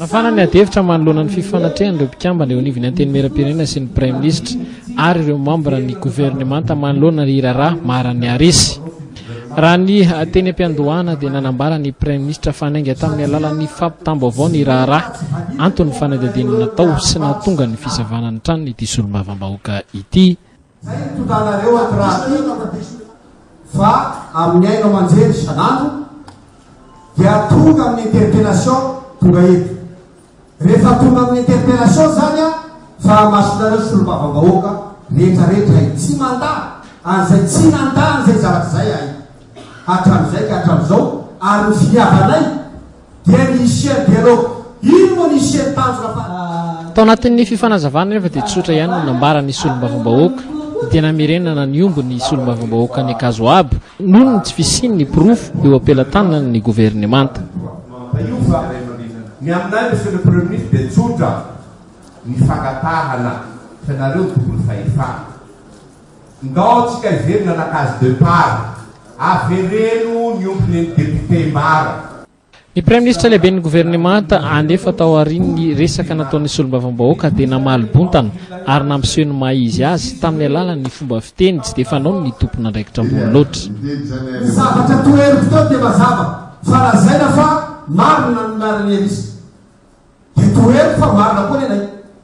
Nafana ny adihevitra manoloana ny fifanatrehan'ireo mpikambana eo anivon'ny Antenimierampirenena sy ny Praiminisitra ary ireo mambra ny governemanta manoloana ny raharaha maran'ny Arisy. Raha ny teny am-piandohana dia nanambara ny Praiminisitra fa nainga tamin'ny alalan'ny fampitam-baovao ny raharaha anton'ny fanadihadiana natao sy nahatonga ny fisavana ny tranony ity solombavambahoaka ity. Izay no tontanareo ato rahateo fa amin'ny haino aman-jery isan'andro dia tonga amin'ny interpellation tonga eto. Rehefa tonga amin'ny interpellation izany aho fa hamasinareo solombavambahoaka rehetrarehetra hay tsy mandà an'izay tsy nandà an'izay zavatra izay ahay hatramin'izay ka hatramin'izao ary ny finiavanay dia ny hisian'ny dialogue. Ino moa ny hisian'ny tanjona farany? Tao anatin'ny fifanazavana anefa dia tsotra ihany no nambaran'ny solombavambahoaka dia namerenana ny omby ny solombavambahoaka any Ankazo Abo noho ny tsy fisian'ny porofo eo am-pelatanan'ny governemanta. Ny aminay Monsieur le Premier Ministre dia tsotra ny fangatahana fa ianareo ny tompony fahefana. Ndao tsika hiverina la case depart. Avereno ny omby neny député mbara. Ny Praiminisitra lehiben'ny governemanta anefa tao aorian'ny resaka nataon'ny solombavambahoaka dia namaly bontana ary nampiseho ny maha izy azy tamin'ny alalan'ny fomba fiteny tsy dia fanaony ny tompon'andraikitra ambony loatra. Ny zavatra toheriko teo dia mazava fa lazaina fa marina ny laharan'ny hevitr'i. Dia toheriko fa marina koa ny anay.